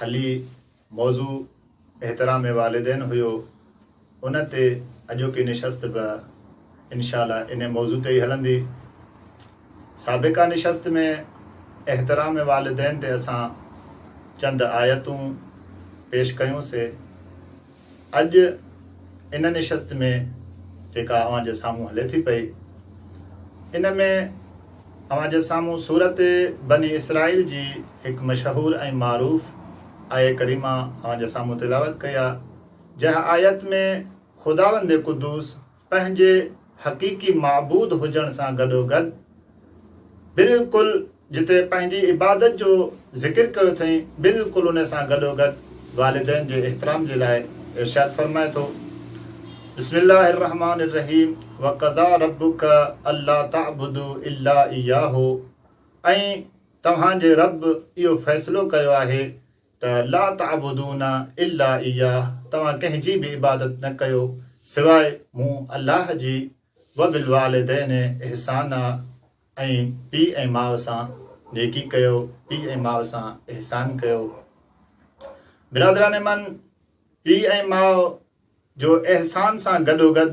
هلي موضوع احترام والدين هيو ان تي اڄوڪي نشست به انشاء الله ان موضوع تي ئي هلندي. سابقه نشست ۾ احترام والدين تي اسان چند آيتون پيش ڪيون سي. اڄ ان نشست ۾ جيڪا اوهان جي سامهون هلي ٿي پئي، ان ۾ اوهان جي سامهون صورت بني اسرائيل جي هڪ مشهور ۽ معروف آيه ڪريمه اوهان جي سامهون تلاوت ڪئي آ، جنهن آيت ۾ خداوند قدوس، پنهنجي حقيقي معبود هجڻ سان گڏوگڏ بلڪل جتي پنهنجي عبادت جو ذڪر ڪيو اٿئين بلڪل ان سان گڏوگڏ والدين جي احترام جي لاء ارشاد فرمائي ٿو بسم الله الرحمن الرحيم وقضا ربك الا تعبدو الا اياه ۽ توهان جي رب اهو فيصلو ڪيو آهي ته لا تعبدون الا اياه توهان ڪنهن جي به عبادت نه ڪيو سواء مون الله جي وبالوالدين احسانا ۽ پيء ۽ ماء سان نيڪي ڪيو پيء ۽ ماء سان احسان ڪيو برادران من پيء ۽ ماء جو احسان سان گڏوگڏ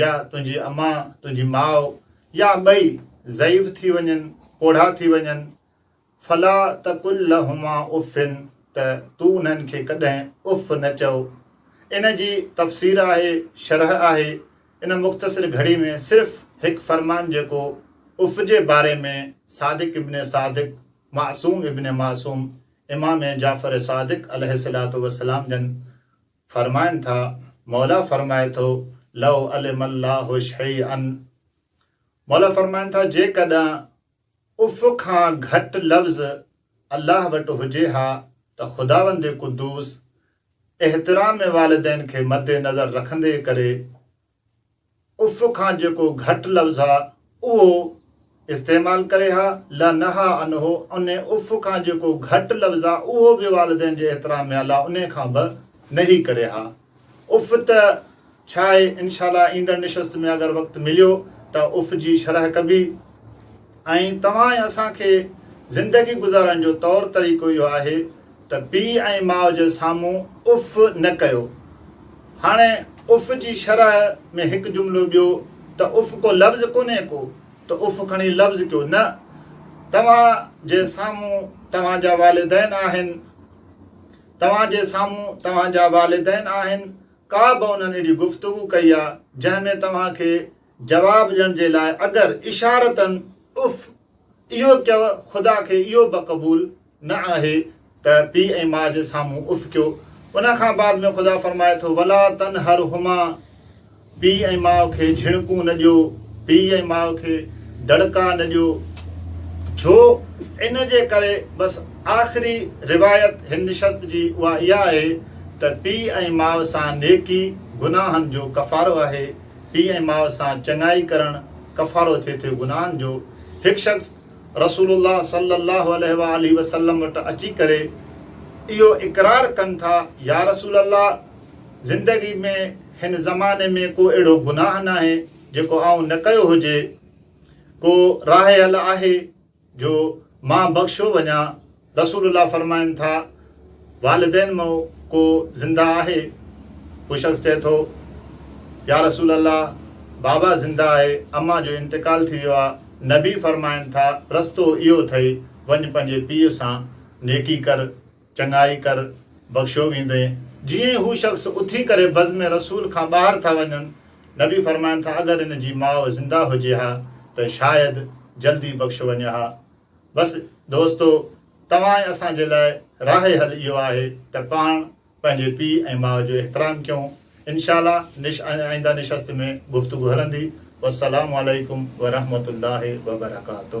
يا تنهنجي اما، تنهنجي ماء يا ٻئي ضعيف ٿي وڃن، پوڙها ٿي وڃن، فلا تقل لهما اف ته تون انهن کي ڪڏهن اف نه چئو. ان جي تفسير آهي، شرح آهي، ان مختصر گهڙي ۾ صرف هڪ فرمان جيڪو اف جي باري ۾ صادق ابن صادق، معصوم ابن معصوم، امام جعفر صادق عليه الصلوة والسلام جن، فرمائن ٿا، موليٰ فرمائي ٿو، لو علم الله شيئا موليٰ فرمائن ٿا، جيڪڏهن اف کان گهٽ لفظ الله وٽ هجي ها ته خداوند قدوس احترام والدين کي مد نظر رکندي ڪري، اف کان جيڪو گهٽ لفظ ها اهو استعمال ڪري ها لا نهيٰ عنه ان اف کان جيڪو گهٽ لفظ ها اهو به والدين جي احترام ۾ ها لا ان کان به نهي ڪري ها اف ته ڇا آهي انشاء الله ايندڙ نشست ۾ اگر وقت مليو ته اف جي شرح ڪبي ۽ توهان ۽ اسان کي زندگي گذارڻ جو طور طريقو اهو آهي ته پيء ۽ ماء جي سامهون اف نه ڪيو. هاڻي اف جي شرح ۾ هڪ جملو ٻيو ته اف ڪو لفظ ڪونهي ڪو ته اف کڻي لفظ ڪيو نه توهان جي سامهون توهان جا والدين آهن توهان جي سامهون توهان جا والدين آهن ڪا به انهن اهڙي گفتگو ڪئي آ جنهن ۾ توهان کي جواب ڏيڻ جي لاء اگر اشارتن اف اهو ڪيو خدا کي اهو به قبول نه آهي ته پي ۽ ماء جي سامهون اف ڪيو ان کان بعد ۾ خدا فرمائي ٿو ولا تن هر هما پي ۽ ماء کي جھڻڪون نه ڏيو پي ۽ ماء کي دڙڪا نه ڏيو جو ان جي ڪري بس آخري روايت هن نشست جي اها اها آهي ته پي ۽ ماء سان نيڪي گناهن جو ڪفارو آهي پيء ۽ ماء سان چڱائي ڪرڻ ڪفارو ٿئي ٿو گناهن جو، هڪ شخص رسول الله صلّي اللّٰه عليه واٰله وسلّم وٽ اچي ڪري اهو اقرار ڪن ٿا، يا رسول الله! زندگي ۾ هن زماني ۾ ڪو اهڙو گناهه ناهي جيڪو آئون نه ڪيو هجي، ڪو راهي حل آهي؟ جو مان بخشيو وڃان، رسول الله فرمائن ٿا، والدين مان ڪو زنده آهي؟ هو شخص چئي ٿو، يا رسول الله بابا زنده آهي، امان جو انتقال ٿي ويو آ، نبي فرمائن ٿا، رستو اهو اٿئي، وڃ پنهنجي پيء سان نيڪي ڪر. چڱائي ڪر، بخشيو ويندين. جيئن ئي هو شخص اٿي ڪري بزم رسول کان ٻاهر ٿا وڃن، نبي فرمائن ٿا، اگر ان جي ماء زنده هجي ها ته شايد جلدي بخشيو وڃي ها. بس دوستو! توهان ۽ اسان جي لاء راهي حل اهو آهي ته پاڻ پنهنجي پيء ۽ ماء جو احترام ڪيون. انشاء الله نش آئنده نشست ۾ گفتگو هلندي. والسلام عليڪم ورحمة الله وبرڪاته.